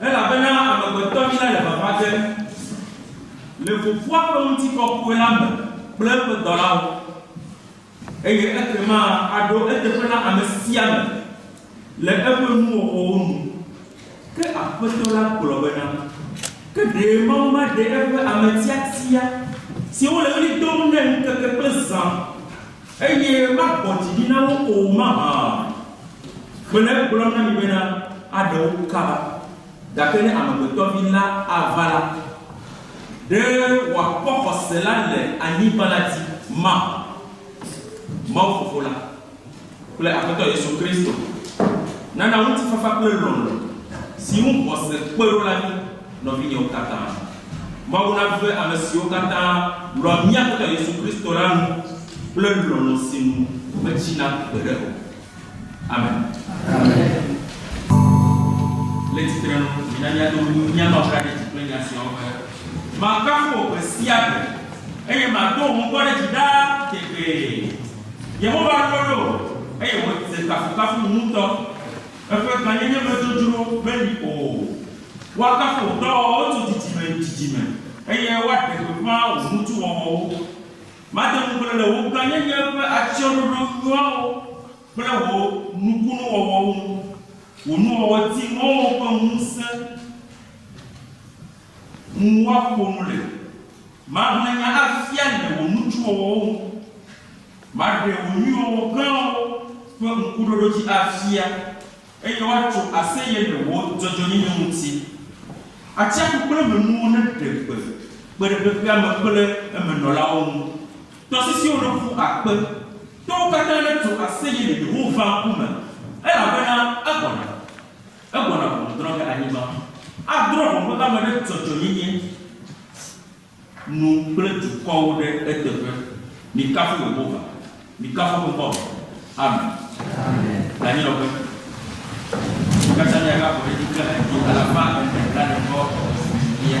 Elabena amegbetɔnyila le vava dzem le Fofoa ƒe ŋutikɔkɔe la me kple eƒe dɔlawo, eye ekema aɖo eteƒe na ame sia ame le eƒe nuwɔwɔwo nu. Ke Aƒetɔ la gblɔ bena, Ke ɖe Mawu maɖe eƒe ame tiatia, siwo le ɣli dom nɛ ŋkeke kple zã, eye magbɔ dzi ɖi na wo o mahã? Mele egblɔm na mi bena, aɖe wo kaba. Gake ne Amegbetɔvi la ava la, ɖe wòakpɔ xɔse la le anyigba la dzi mahã? Mawu Fofo la kple Aƒetɔ Yesu Kristo nana ŋutifafa kple lɔlɔ̃ si ŋu xɔse kpe ɖo la mí, nɔvinyewo katã. Mawu nave ame siwo katã lɔ̃a mía Aƒetɔ Yesu Kristo la nu kple lɔlɔ̃ si nu metsina gbeɖe o. Amen. Le tsitrenu, mina míado mía babla ɖe dzi kple nya siawo be, Makafu wò gbe sia gbe, eye mado wò ŋkɔ ɖe dzi ɖaa tegbee. Yehowa ɖo ɖo eye wòdze kafukafu ŋutɔ. Eƒe gãnyenye me dzodzro meli o. Woakafu wò dɔwɔwɔwo tso dzidzime yi dzidzime, eye woaɖe gbeƒã wò ŋutiwɔwɔwo. Made ŋugble le wò gãnyenye ƒe atsyɔ̃ɖoɖo nyuiawo kple wò nukunuwɔwɔwo ŋu. Wò nuwɔwɔ di mɔwo ƒe ŋusẽ ŋu woaƒo nu le. Maʋlẽ nya afia le wò nutsuwɔwɔwo ŋu, maɖe wò nyuiwɔwɔ gãwo ƒe ŋkuɖoɖo dzi afia, eye woatso aseye le wò dzɔdzɔenyenye ŋuti. Atsiaƒu kple emenuwo neɖe gbe kpe ɖe xexea me kple emenɔlawo ŋu, tɔsisiwo neƒu akpe, towo katã netso aseye le Yehowa ŋkume, elabena egbɔna. Egbɔna ʋɔnu drɔ̃ ge anyigba. Adrɔ̃ ʋɔnu ame ɖe dzɔdzɔenyenye nu kple dukɔwo ɖe eteƒe. Mikafu Yehowa. Mikafu eƒe ŋkɔ me. Amen. Le anyinɔƒe, mí katã míagaƒo ɖe edzi kple ha dzĩ alafa ene blaade-vɔ-evelia.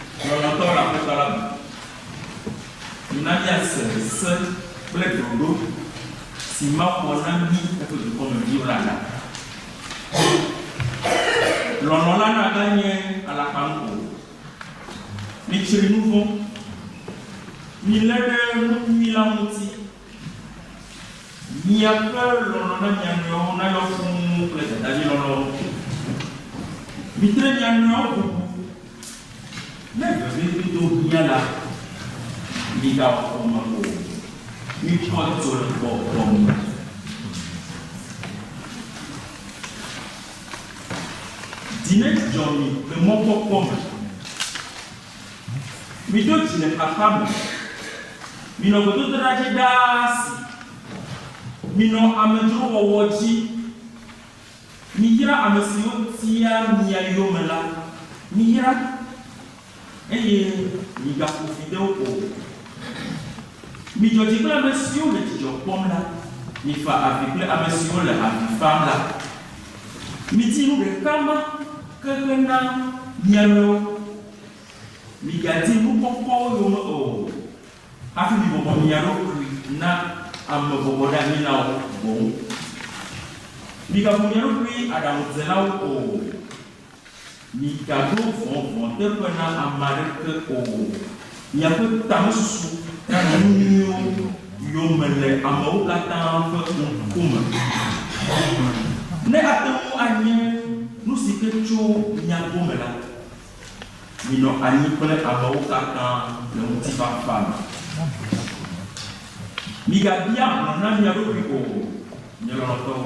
Lɔlɔ̃tɔ le Aƒetɔ la me. Mi na míase se kple ɖoɖo si Mawu wɔ na mí eƒe dukɔ me viwo la ɖa. Lɔlɔ̃ la naganye alakpanu o. Mitsri nu vɔ̃. Milé ɖe nu nyui la ŋuti. Miaƒe lɔlɔ̃ na mia nɔewo nayɔ fũu kple dadadzilɔlɔ̃. Mitre mia nɔewo ƒo ƒu. Ne vevidodo hiã la, migawɔ fɔme o. Mikpɔ dzidzɔ le gbɔgbɔ me. Dzi nedzɔ mi le mɔkpɔkpɔ me. Miɖo dzi le xaxa me. Minɔ gbedodoɖa dzi ɖaa si. Minɔ amedzrowɔwɔ dzi. Miyra ame siwo tia mia yome la. Miyra, eye migaƒo fi de wo o. Midzɔ dzi kple ame siwo le dzidzɔ kpɔm la. Mifa avi kple ame siwo le avi fam la. Midi nu ɖeka ma ke hena mia nɔewo, Migadi nu kɔkɔwo yome o, hafi mibɔbɔ mia ɖokui na ame bɔbɔɖeanyilawo boŋ. Migabu mia ɖokui aɖaŋudzelawo o, Migaɖo vɔvɔ̃ teƒe na ame aɖeke o. Miaƒe tamesusu nanɔ nu nyuiwo yome le amewo katã ƒe ŋku me. Ne ate ŋu anye nu si ke tso mia gome la, minɔ anyi kple amewo katã le ŋutifafa me. Migabia hlɔ̃ na mia ɖokui o, nye lɔlɔ̃tɔwo.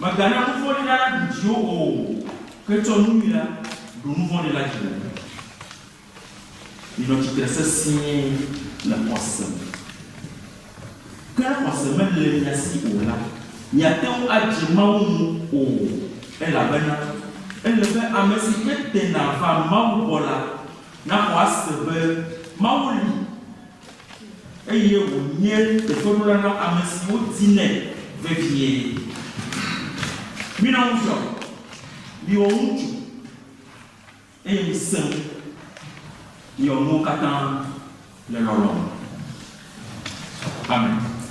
Mègana nu vɔ̃ɖi la naɖu dziwò o, ke tsɔ nu nyui la ɖu nu vɔ̃ɖi la dziwò. Minɔ tsitre sesĩe le xɔse me. Ke ne xɔse mele mia si o la, miate ŋu adze Mawu ŋu o, elabena ele be ame si ke tena vaa Mawu gbɔ la naxɔ ase be Mawu li. Eye wònye teƒeɖola na ame siwo dinɛ vevie. Mina wofiɔ mi. Miwɔ ŋutsu, eye misẽ ŋu. Miwɔ nuwo katã le lɔlɔ̃ me. Amen.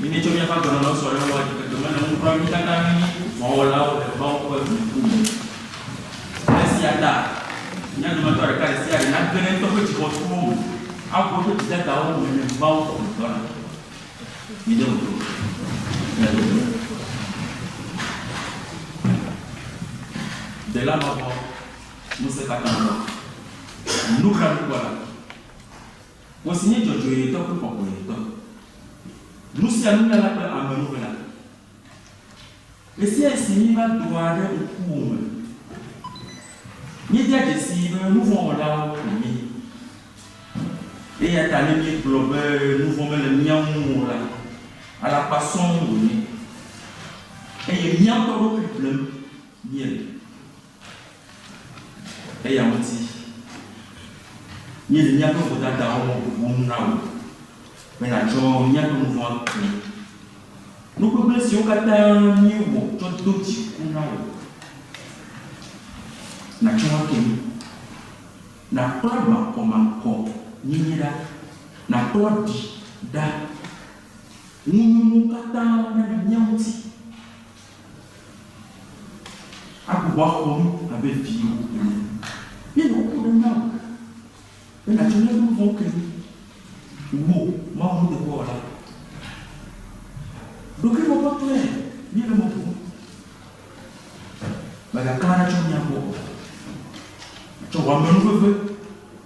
Míetsɔ míaƒe agbenɔnɔ sɔ ɖe Yehowa dzi keke me ne ŋu kura mí katã míenye vɔ̃wɔlawo le Mawu ƒe dziku me. Esia ta mía dometɔ ɖeka ɖe sia ɖe nage ɖe eŋutɔ ƒe dzixɔtuwo me aʋu eƒe dzidadawo me le Mawu ƒe ŋugbã me. Mide ŋugble o. Mía dometɔ ɖe. Dela mavɔ ŋusẽkatãtɔ. Nublanuikpɔla. Ŋɔ si nye dzɔdzɔetɔ kple kɔkɔetɔ. Nu sia nu nyala kple ame nu ƒe la. Ɣesiaɣi si míeva doa ɖe ŋkuwò me, míedia dzesii be nu vɔ̃ wɔlawo ko míenye. Eyata ne míegblɔ be nu vɔ̃ mele mía ŋu o la, alakpa sɔŋ wònye, eye mía ŋutɔ ɖokui blem míele. Eya ŋuti míele míaƒe vodadawo ŋuŋum na wò be nàtsɔ míaƒe nu vɔ̃ aku. Nu gbegblẽ siwo katã míewɔ tsɔ do dziku na wò, nàtsɔ wo ake mí. Nàkplɔ makɔmakɔnyenye ɖa, nàkplɔ ɖi ɖa, ŋunyɔnuwo katã ɖa le mía ŋuti. Agbugbɔ axɔ mí abe viwo ene. Ne nèku ɖe Mawu ŋu be nàtso míaƒe nu vɔ̃wo ke mí, wò, Mawu nuteƒewɔla, ɖokuimɔkpɔtɔe míele mɔ bum. Mègakpla ɖa tso mía gbɔ o. Tsɔ wò amenuveve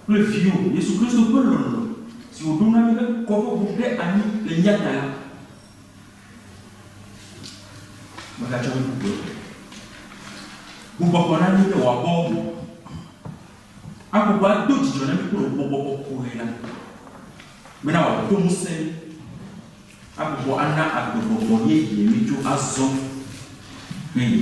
kple Viwò, Yesu Kristo ƒe lɔlɔ̃ si wòɖo na mí be kɔƒe ʋu ɖe anyi le mía ta la. Megatsɔ nu bubu eƒo. Bubɔbɔ na mí be wòakpɔ ŋu. Agbugbɔ ado dzidzɔ na mí kple wò gbɔgbɔ kɔkɔe la. Mena wòado ŋusẽ mí. Agbugbɔ ana agbegbɔgbɔ yeye mí tso azɔ ƒe yi.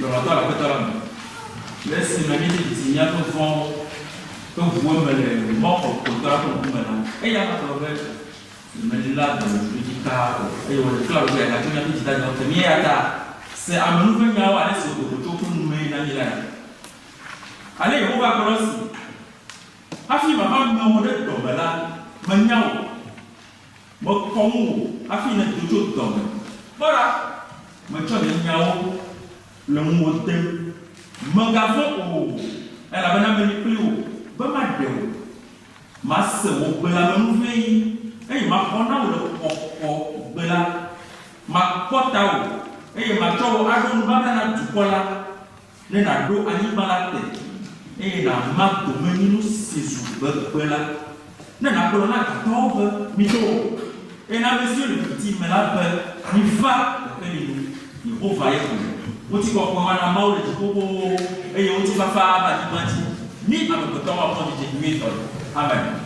Lɔlɔ̃tɔ le Aƒetɔ la me. Le esime míedze dzesi mía nu vɔ̃wo ƒe ŋuwo eme le mɔ kɔkɔetɔ la ƒe ŋkume la, eya hã gblɔ be yemeléa dɔmedzoe dzi taa o, eye wòɖe fia wòbe yeagatso míaƒe dzidadawo ke mí. Eya ta se ame nu ƒe nyawo ale si wòɖo tso woƒe nu mee na mí lae. Ale Yehowa gblɔ esi, Hafi mava ame wò ɖe dɔme la, menya wò. Mekpɔ ŋuwò hafi nèdo tso dɔ me. Kpɔ ɖa, metsɔ nye nyawo le ŋuwò dem. Mègavɔ̃ o, elabena meli kpli wò be maɖe wò. Mase wò gbelamenu-ʋẽɣi, eye maxɔ na wò le kɔkɔ gbe la. Makpɔ tawò, eye matsɔ wò aɖo nubabla na dukɔ la. Ne nàɖo anyigba la te, eye nàma domenyinu si zu gbegbe la, ne nàgblɔ na dutɔwo be, Mido! eye na ame siwo le viviti me la be, Miva kekeli nu! Yehowa ye gblɔe. Ŋutikɔkɔe mana Mawu le dziƒo xoxowo, eye ŋutifafa ava anyigba dzi. Mí amegbetɔwo akpɔ dzidzi nyuitɔe. Amen.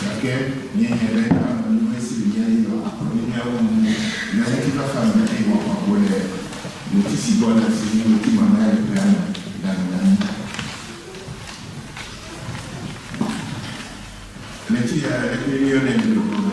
Gake míenya be ne ame nɔnɔe si le mía dzi la akplɔ mí míawɔ nu le ŋutifafa me eye wòaƒo agbo le ŋuti si gbɔna si nye ŋuti mamlɛa le ƒea me la nu na mí. Ɣleti ɣi aɖe kpli míeyɔnɛ le dukɔ me.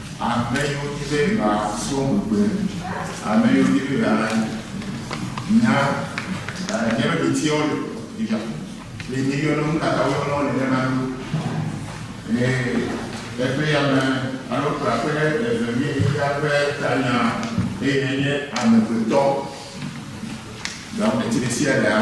Ame yi wodi be yewoa srɔ̃ gbegbe, ame yi wodi be yewoa nya míaƒe ɖoɖoe wo le fifia. Eye mi yɔna wo, nukata wo yɔna wo nenema ɖo? Eye eƒe ame alo kplɔa ƒe eve mi xexea ƒe tanya eye enye amegbetɔ. Gawɔ ɖe tsi ɖe sia ɖe hã.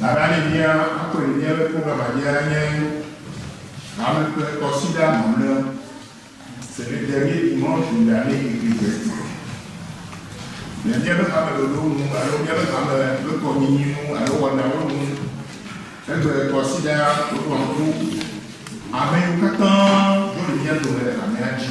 Nananemia akpɔe ɖe fia be program aɖea nye Ame kple Kɔsiɖa Mamlɛa, C'est le dernier dimanche de l'année ecclésiastique. Le míaƒe hameɖoɖo nu alo míaƒe hame ƒe kɔnyinyi nu alo wɔnawo nu egbe kɔsiɖa ɖoɖoa ŋku amewo katã ɖo le mía dome le hamea dzi.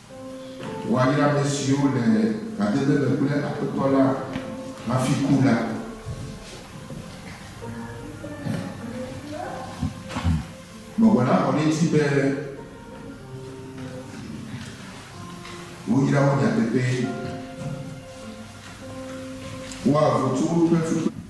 Woayra ame siwo le gbademe me kple Aƒetɔ la hafi ku la. Gbɔgbɔ la xɔ ɖe edzi be woyra wo nyateƒee. Woaʋu tso woƒe fukpekpe.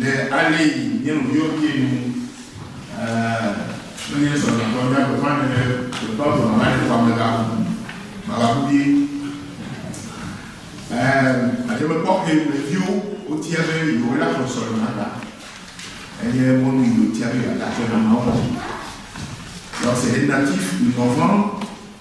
Le ale yi nye nuyɔvie nu kple nye srɔ̃nyɔnuɔ mía gbeƒã ne ɖe gbeƒã gblɔ mava ɖe xɔa me la, mava ku vie. Adzɔgbe kpɔxɛ me viwo wotia be yewoe la xɔ srɔ̃nyɔnua ta. Enye mɔnu yi wotia be yewoada akpe na Mawu. Lorsqu'elle est native, une enfant,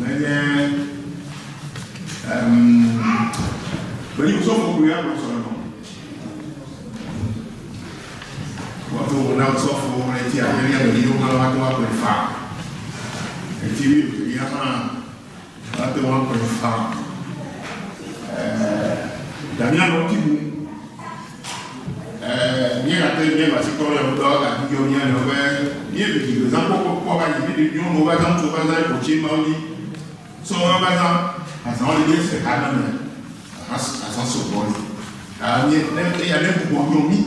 Nenye em gbeyusɔ kɔkɔe ya kplɔ sɔnɔ. Wɔtɔ wo na sɔfo le ti amelia le yiwo ma wa to wa kple fa. Eti wi le ya ma wa to wa kple fa. Eh, Daniel ɔti bu. míegate ŋu míenɔ asi trɔm yɔdo alo gãku dzɔm mía nɔewo be míeɖu dzi le zã kpɔkpɔ kpɔ va yi vi ɖe nyɔnuwo va zã ŋutsuwo va zã yi ƒotsi mawo dzi sɔhɛ va zã azãwo le míesi ɖeka ɖe me azã azã sɔgbɔ li a ne eya ne bubɔ nyo mí.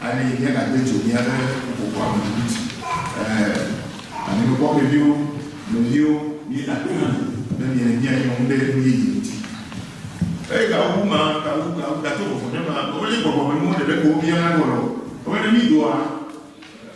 Aɖee nye nàde dzo mía ɖe ƒuƒoƒoa me tututu. Ẽ, anyinokpɔ me viwo, nɔviwo, mina to na mi be miele mía nyɔm ɖe nu yeye ŋuti. Eye gawu bu ma, gawu, gawu, gato vɔvɔ̃ ɖe ma, menye gbɔgbɔmenuwo ɖeɖe ko wobia na ɖo alo? Menye ne mídoa?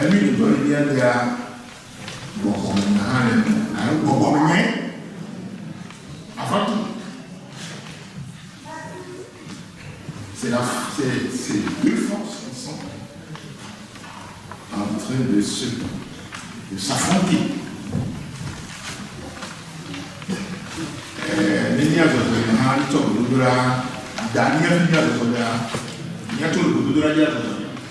Emi ɖotɔ yi bia bia gbɔgbɔ me hã le eme alo gbɔgbɔ me nye afatu. C'est la, c'est deux forces qui sont en train de se, de s'affronter. Euh, ne mía zɔzɔ yi hã tsɔ gbedodoɖa, da mía mía zɔzɔ ɖa, mía tsɔ gbedodoɖa mía zɔzɔ.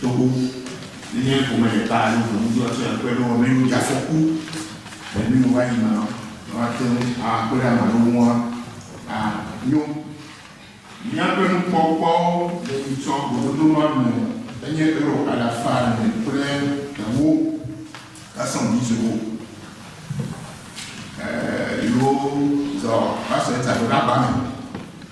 Togo, Nenye ƒome ɖeka alo ʋu ŋutɔ tsɔe akpe be wɔmenu dze afɔku le nuyi wòva yi mea, woate ŋu akpe ɖe ame aɖewo ŋu anyo. Míaƒe nukpɔkpɔwo le yi tsɔ gododo ma me enye Euro alafa ene kple ewo kasɔn bizowo. Ee, yi wo zɔ va se taɖoɖa ba me.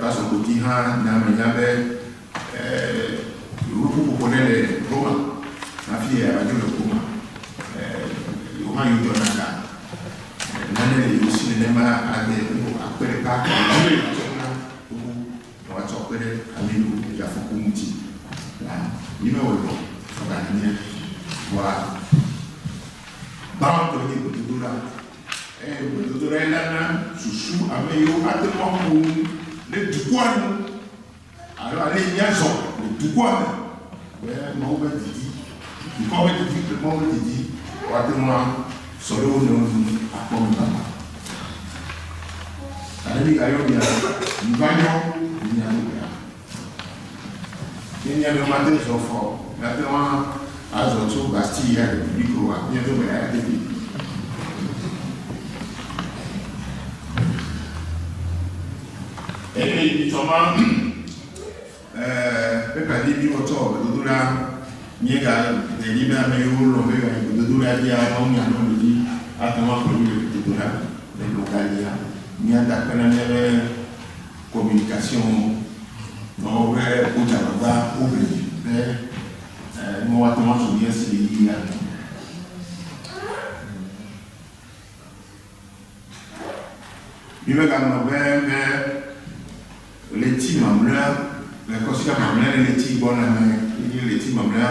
Pastor Koti hã nya ame nya be yewo ƒu ƒoƒo ɖe le Roma hafi yea dzo le Roma. Yewo hã yewo dɔna ga. Nane le yewo si nenema ade wo akpe ɖeka alo wu le atsɔ na xoxo ne woatsɔ akpe ɖe ame yiwo dze afɔku ŋuti la ŋu. Yi me wòle o, ega nɔ mía gbɔ la, gbãtɔ nye gbedodoɖa Eye gbedodoɖae nana susu ame yiwo ate ŋu aƒo nu ɖe dukɔa nu alo ale míazɔ le dukɔa me be Mawu ƒe didi, dukɔa ƒe didi kple Mawu ƒe didi woate ŋu asɔ ɖe wo nɔewo nu akpɔ nubabla. Gake migayɔ mia nɔviwo be miva nyɔ le mía dome ɖa. Ne mía dome ate zɔ fɔ, míate ŋu azɔ tso Bastille yia République o alo mía dome ate bi. Eye etsɔ ma, pepa didi wotsɔ wɔ gbedodoɖa, míegaɖe dzi be ame yiwo lɔ̃ be yewoayi gbedodoɖa dzia, Mawu nya nɔ mi dzi ate ŋu aƒle mi le gbedodoɖa. Ne nɔgayia, míada akpe na mía be, Kɔminikasiɔndɔwɔƒe ƒe ŋudzɔlagã Obley be, Ee, ne woate ŋu azu mía si ɣeyiɣi anɔ. Mímeganɔ be ne ɣleti mamlɛa le kɔsia mamlɛa le ɣleti gbɔna me, míenye ɣleti mamlɛa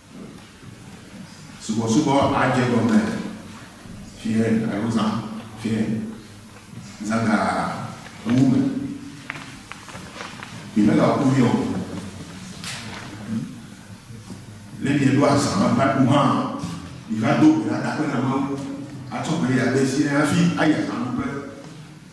Subɔsubɔ adze egɔme fiẽ alo zã fiẽ, zã ga ewu me. Mi me ga ku fiɔ. Ne mi ɖo azã ma va ku hã, mi va do gbe ɖa ɖa ƒe na ma wu. Atsɔ gbe ɖa ɖe si ne hafi ayi azã wu ƒe.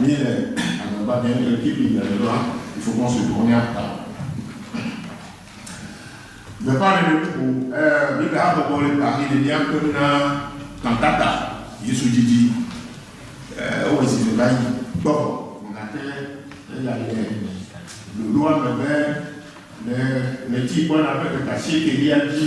Ni le agbagba ɖem le Bibli me le la, il faut qu'on se tourne à table. Gbeƒãɖeɖe bubu, ee, Biblia habɔbɔ le Paris le míaƒe nu na kantata Yesu didi. Ee, ewɔ zi le va yi gbɔ. Gake eya le ɖoɖoa me be le ɣleti gbɔna ƒe ɖeka asiekɛlia dzi,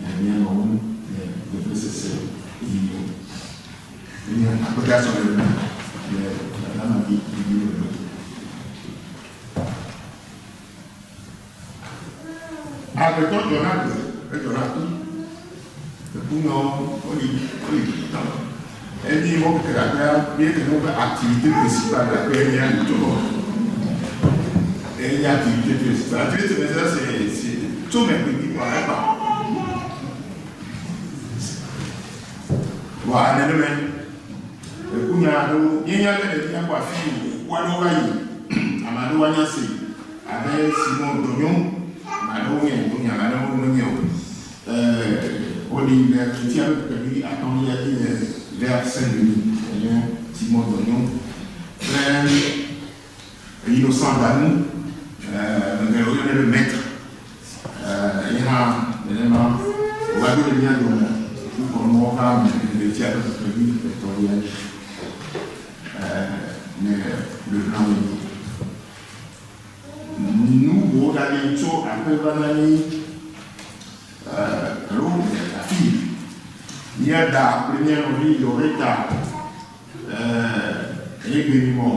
Nya nia nɔ ŋu le vevesese yi me. Enye akpedea sɔle ŋu le dada ma dzi yi me me. Agbetɔ dzɔna gbe, edzɔna ku. Ekunyawo woli, woli tama. Enyi mɔ kekeake míeɖe mɔ be activité principale la kpe mía ŋutɔ ŋu. Enye activité principale. Activité principale c'est c'est tso megbe mi kpɔna egbɔ. Vɔa nenemae eku nya aɖewo míenya be ɖevi nakpɔ afi si ŋku aɖewo va yi. Ame aɖewo anya se abe Simon dɔ nyɔm. Ame aɖewo nyae dɔ nyɔm ame aɖewo menyae o. Ɛ̃, woɖii ɖe Kletiawo ƒe ƒe atɔ̃lia dzi le Lea Sendimi, enye Timon Donyon kple Innocent Danu, ame geɖewo yɔnɛ be Maitre, ye hã nenema, wòva ɖo ɖe mía dome kpukpɔnuwo hã me le ɣletia ƒe ƒe ƒe etɔ̃lia dzi le Lehua me. Nu buwo gage tso aƒe va na mí alo afii. Mía da kple mía nɔvi Loretta ye gbe mi mɔ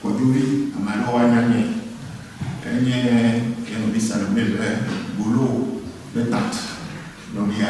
kɔdzovi ame aɖewo anya mí. Enye ye nɔvi Salome ƒe bolo ɖe tant nɔvia.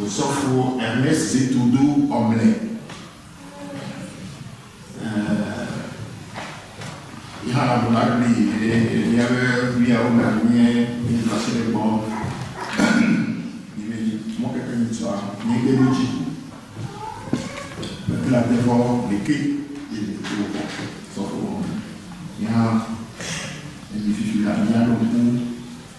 Osɔfo Ernest Zito do ɔmlɛ Yehana Bola Agbe ɖe ɖevia be viawo me anye míetrasele gbɔ Míebe mɔkeke nyitsɔa míegbe ɖo dzi Bebla devɔ ɖeke ye ɖeviwo kɔ sɔfo wɔ me Míaha enyi fifi la míaɖo ŋku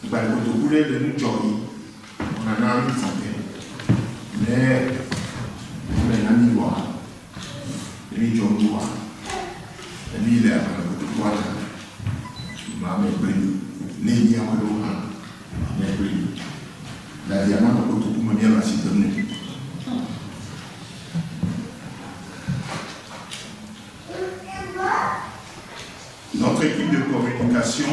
Gba kotoku ɖe le nu dzɔ mi na na mi ti te. Ne me na mi wa, mi dzɔ mi wa. Mi le agba kotoku wa na. Ma me gbe ni. Ne mi awa ɖo ha, me gbe ni. Na dia ma me kotoku me mi ala si te mu. Notre équipe de communication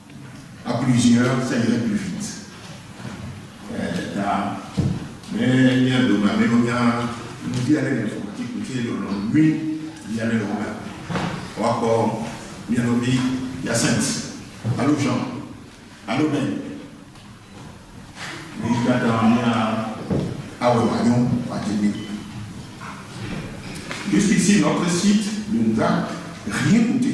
A plusieurs ça irait plus vite eh ta me mia dome ame ɖewo nya ŋdi ale le kuti kuti lɔlɔ nyui yi ale le wɔna wakɔ mia nɔvi Hyacinthe alo Jean alo Ben mi katã mia awɔ wòanyo wòadze mi juste ici notre site de nous a rien coûté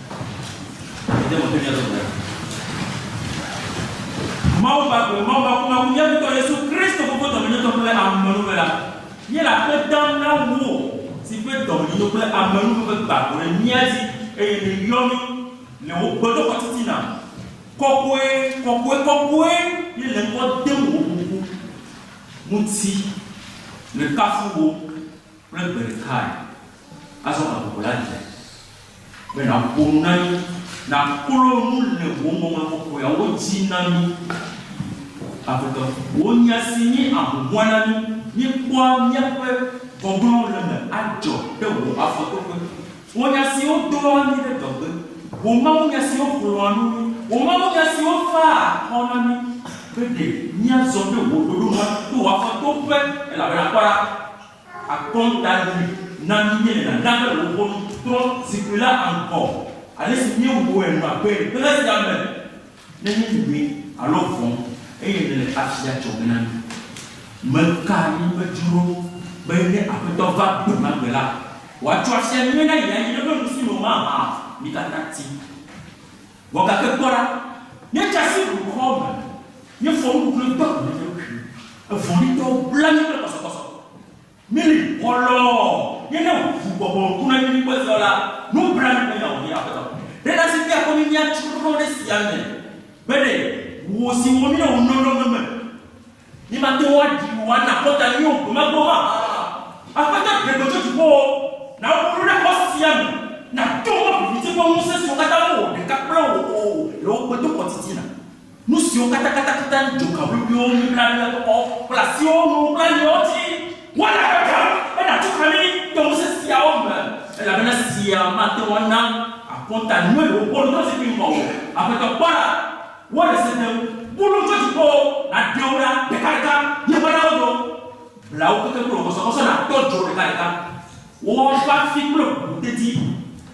Mawu ƒe agbe, Mawu ƒe akumaku, Mía Aƒetɔ Yesu Kristo ƒe kpodɔmenyotɔ kple amenuveve la, míele akpe dam na wò si ƒe dɔmenyonyo kple amenuveve gbã ʋu ɖe mía dzi eye nèyɔ mí le wò gbedoxɔ titina. Kɔkɔe, kɔkɔe, kɔkɔe ye le ŋkɔ dem wò ƒuƒu ŋuti. Mekafu wò. Kple gbe ɖekae. Azɔ gaƒoƒo la dze be nàƒo nu na mí, nàklɔ nu le wò ŋɔŋlɔ kɔkɔeawo dzi na mí. Aƒetɔ, wò nya si nye ahuhɔ̃e na mí, míekpɔa míaƒe gbɔgblɔwo le eme adzɔ ɖe wò afɔtoƒe. Wò nya siwo doa mí ɖe dɔgbe, wò mawunya siwo xlɔ̃a nu mí, wò mawunya siwo faa akɔ na mí be ɖe míazɔ ɖe wò ɖoɖo nu ato wò afɔtoƒe, elabena kpɔ ɖa, Akɔntaʋli na mí míelena na be wò ʋɔnu trɔ zikpui la aŋkɔ ale si míewɔe nɔa gbee ƒe ɖe sia me ne míenyi ʋɛ alo vɔ̃ eye nèle asi adzɔge na mí. Meka anyi vevi ɖo be ne Aƒetɔ va gbe ma gbe la, wòatsɔ asia nyuie na ye anyi ɖe eƒe nusi me o mahã mi katã ti. Vɔ gake kpɔ ɖa, míedze asi blukɔ me, míefɔ nuku kple do agu na mía ɖokuiwo, evɔ̃ɖitɔwo bla mí kple kɔsɔkɔsɔ, míeli kɔ lɔɔ, míene ʋu bɔbɔ ŋku na mí ŋu hezɔ la, nublanui ƒe nya wònye, Aƒetɔ. Ɖe nasi fia kpɔ mí míatso ɖoɖo ɖe esia me be ɖe wò si wɔ mí ɖe wò lɔlɔ̃ me me. Nye mate ŋu aɖi wò ana akɔta nyui o gbe ma gbe o hã. Aƒetɔ ɖe gbe tso dziƒowo, na wò ɖoɖo naxɔ sia me, na to wò viviti ƒe ŋusẽ siwo katã mewɔ ɖeka kple wò o le wò gbedoxɔ titina. Nu siwo katã katã katã dzoka ʋliʋliwo, nublanuimeɖoxɔ kple asiwo nu kple aliawo dzi, woana gagam be nàtso kami to ŋusẽ siawo me, elabena sia mate ŋu ana akɔta nyui le wò gbedoxɔ zikpui ŋgɔ o, Aƒetɔ kpɔ ɖa, Wɔ ɖe se dem, bu nu tso dziƒo, nàɖe wo ɖa ɖekaɖeka, yi ƒe ɖewo do. Bla wo keke kple wò kɔsɔkɔsɔ, nàtɔ dzo ɖekaɖeka. Wɔ woƒe afi kple wò deti,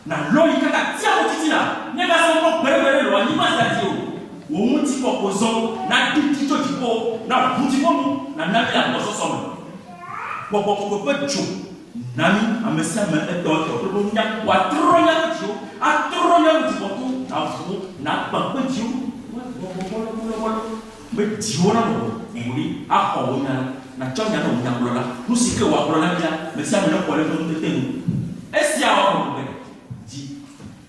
nàlɔ yi kaka atsiaƒu titina. Mègasɔ ŋkɔ gbeɖegbeɖe lɔ anyigba sia dzi o. Wò ŋutikɔkɔe zɔ, naɖiɖi tso dziƒo, naʋu dziƒo nu, nàna mí le agbɔsɔsɔ me. Gbɔgbɔ kɔkɔe ƒe dzo Na mí, ame sia ame etɔ etɔ, kple woƒe nunya, wòatrɔ mía vidziwo, atrɔ mía ŋu dzikpɔtɔ, navu wo, nagbã kpe dziwo ŋu, woadɔ gbɔgbɔ lɔbolɔbolɔ be dziwo nanɔ ʋuʋui axɔ wò nya la, natsɔ nya nɔ wò nyagblɔla, nu si ke wòagblɔ na mí la, ame sia ame nexɔe ɖe eƒe ŋutete nu. Esia awɔ be wòabu be dzi.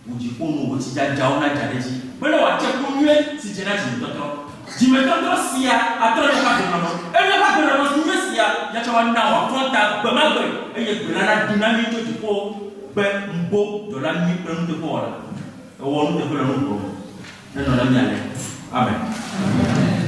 Wò dziƒo nu wò tsidzadzawo nadza ɖe edzi. Be ne wòatse ku nyui si dze na dzimetɔtrɔ. Dzimetɔtrɔ sia atrɔ nye ƒe agbenɔnɔ, eye eƒe agbenɔnɔ si nye esia ya tsɛ woana wòaklɔ ta gbemagbe, eye gbe la nado na nyui tso dziƒo be, Mbo, dɔla nyui kple nuteƒewɔla, èwɔ nuteƒe le nu vɔ̃ me. Nenɔ na mí ale. Amen.